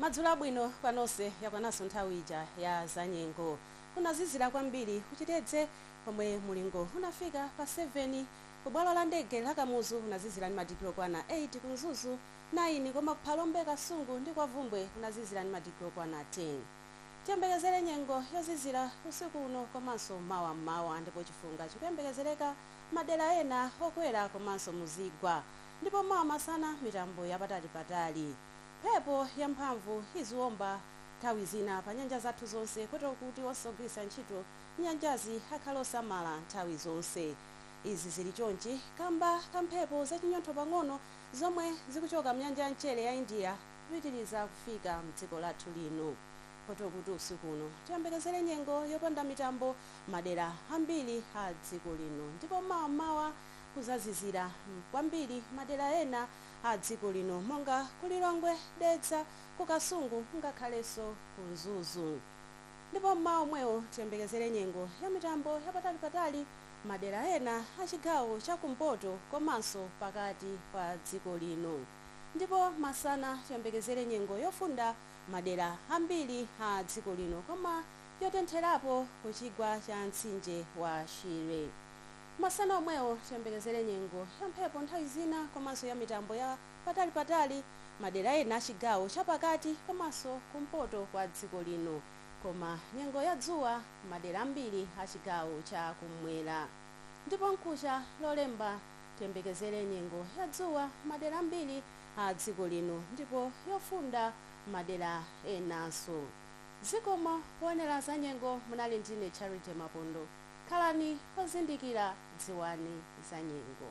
madzulo abwino kwa nonse yakwananso nthawi ija ya zanyengo kunazizira kwambiri ku Chitedze pomwe mulingo unafika pa 7 ku bwalo la ndege la kamuzu kunazizira ndi madigiri okwana 8 ku mzuzu 9 koma ku phalombe kasungu ndi kwa vumbwe kunazizira ndi madigiri okwana 10 tiyembekezere nyengo yozizira usiku uno komanso mawa mmawa ndipo chifunga chikuyembekezereka madera ena okwera komanso mu zigwa ndipo mawa masana mitambo ya patalipatali. Mphepo ya mphamvu iziwomba nthawi zina pa nyanja zathu zonse kotero kuti onse ogwiritsa ntchito nyanjazi akhale osamala nthawi zonse. Izi zili chonchi kamba ka mphepo za chinyontho pang'ono zomwe zikuchoka mnyanja ya mchere ya India kupitiriza kufika mdziko lathu lino. Kotero kuti usiku uno tiyembekezere nyengo yopanda mitambo madera ambiri a dziko lino ndipo mawa mmawa kuzazizira kwambiri madera ena a dziko lino monga ku Lilongwe, Dedza, ku Kasungu ngakhalenso ku Mzuzu. Ndipo mmawa omwewo tiyembekezere nyengo ya mitambo yapatalipatali madera ena a chigawo cha kumpoto komanso pakati pa dziko lino. Ndipo masana tiyembekezere nyengo yofunda madera ambiri a dziko lino koma yotentherapo ku chigwa cha mtsinje wa Shire. Masana omwewo tiyembekezere nyengo ya mphepo nthawi zina komanso ya mitambo ya patalipatali madera ena a chigawo chapakati komanso kumpoto kwa dziko lino koma nyengo ya dzuwa madera ambiri a chigawo cha kummwera. Ndipo mkucha Lolemba tiyembekezere nyengo ya dzuwa madera ambiri a dziko lino ndipo yofunda madera enanso. Zikomo poonera za nyengo munali ndine Charity Mapondo. Khalani ozindikira, dziwani za nyengo.